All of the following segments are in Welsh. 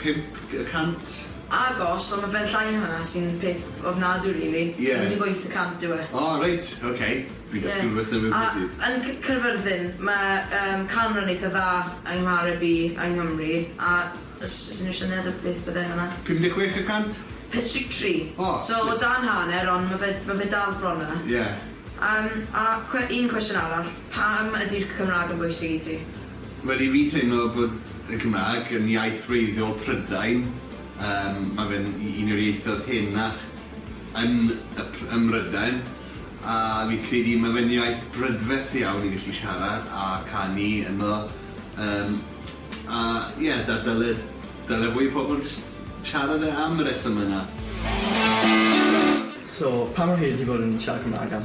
Pump y cant. Agos ond ma fe'n llai na hwnna sy'n peth ofnadw rili. Ie. Pum deg wyth y cant yw e. O reit ok fi'n dysgu rwbeth newydd bob dydd. Ie a yn c- Caerfyrddin ma yym canran eitha dda yng nghareb i yng Nghymru a os os unryw syniad o beth bydde hwnna? Pum deg chwech y cant? Pump deg tri. O. So o dan hanner ond ma fe ma fe dal bron yna. Ie. Yym a cwe- un cwestiwn arall pam ydi'r Cymrag yn bwysig i ti? Wel i fi teimlo bod y Gymraeg yn iaith wreiddiol Prydain, yym ma' fe'n u- un o'r ieithoedd henach yn y Pry- ym Mrydain a fi'n credu ma' fe'n iaith brydferth iawn i gallu siarad a canu ynddo yym a ie da- dyle dyle fwy o pobol jyst siarad e am y resyme 'na. So, pa mor hir ti bod yn siarad Cymraeg am?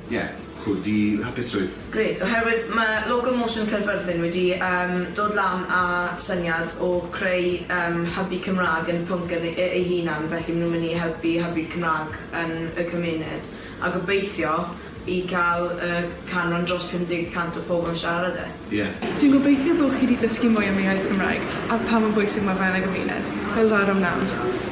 Ie, cwl, di hapusrwydd. Grêt, oherwydd mae logo Motion Caerfyrddin wedi yym dod lan â syniad o creu yym hybu Cymraeg yn y pwnc yn e- ei hunan, felly maen nhw'n mynd i helpu hybu'r Cymraeg yn y cymuned, a gobeithio i cael y canran dros 50 y cant o pobl yn siarad e. Ie. Dwi'n gobeithio bod chi 'di dysgu mwy am yr iaith Gymraeg a pha mor bwysig mae fe yn y gymuned, fel ddaru Mnawn.